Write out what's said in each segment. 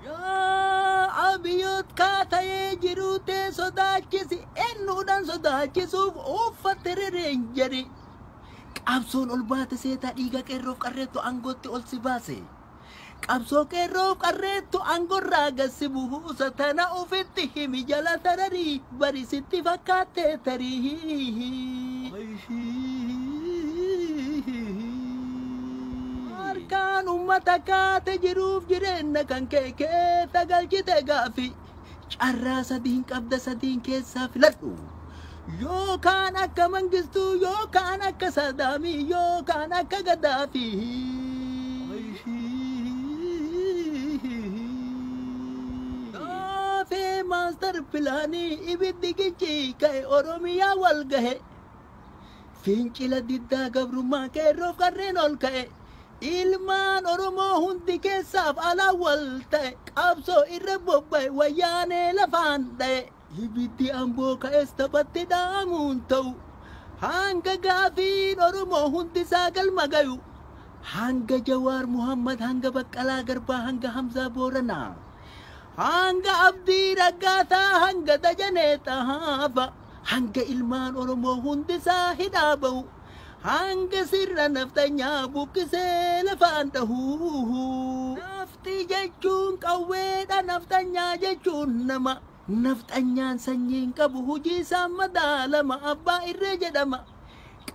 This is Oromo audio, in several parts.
Yaa Abiyoot kaa ta'ee jiruu tee sodaachisi ennuudhaan sodaachisuuf uuffatte rereenjeri. Qabsoon ol baate seetaa dhiiga qeerroof qarreettu aangootti ol si baase. Qabsoo qeerroof qarreettu aangorraa gad si buusa tana ufitti himi jala tararii. Bari sitti fakkaatte tarii. Harkaan ummata kaate jiruuf jireenna kan kee keessa galchite gaaffii. Carraa sadiin qabda sadiin keessaa filadhu. Yookaan akka mangistuu yookaan akka saadaamii yookaan akka gadaafii. Gaaffii Maastar Pilaanii Ibiddi gicci ka'e Oromiyaa wal gahe Fincila diddaa gabrummaa Qeerroof qarreen ol ka'e Ilmaan Oromoo hundi keessaaf alaan wal ta'e Qabsoo irra bobba'e Wayyaanee lafaan dha'e Ibiddi Amboo ka'es taphatti dhaamuun ta'u Hanga gaafiin Oromoo hundisaa galma gayu Hanga Jawaar Muhammad hanga Baqqalaa Garbaa hanga Hamzaa Booranaa Hanga Abdii Raggaasaa hanga Dajanee Xahaafa hanga ilmaan Oromoo hundisaa hidhaa ba'u hanga sirna nafxanyaa buqqisee lafaan dhahu. Nafxi jechuun qawweedha nafxanyaa jechuun nama. Nafxanyaan sanyii hin qabu hujii isaan madaalama abbaa irree jedhama.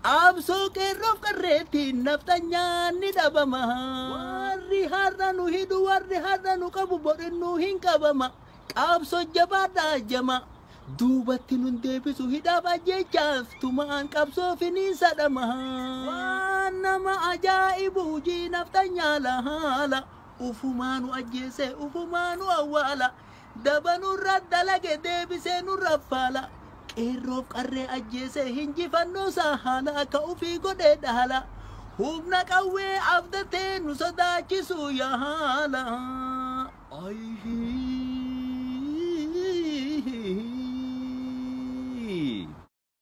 Qaabsoo qeerroof qarreettiin nafxanyaan ni dhabama. Warri har'a nu hidhu warri har'a nu qabu borinnuu hin qabama. Qaabsoo jabaadhaa jama. Duubatti nun deebisu hidhaaf ajjeechaaf tumaan qabsoo finiinsa dhama. Waan nama ajaa'ibu hujii nafxanyaa lahaala. Ufumaa nu ajjeesee ufumaa nu awwaala. Daba nurra dalage deebisee nurra faala Qeerroof qarree ajjeesee hinjifannoosaa haala Akka ufii godhee dhaala Humna qawwee abdatee nu sodaachisuu yaala Ayii.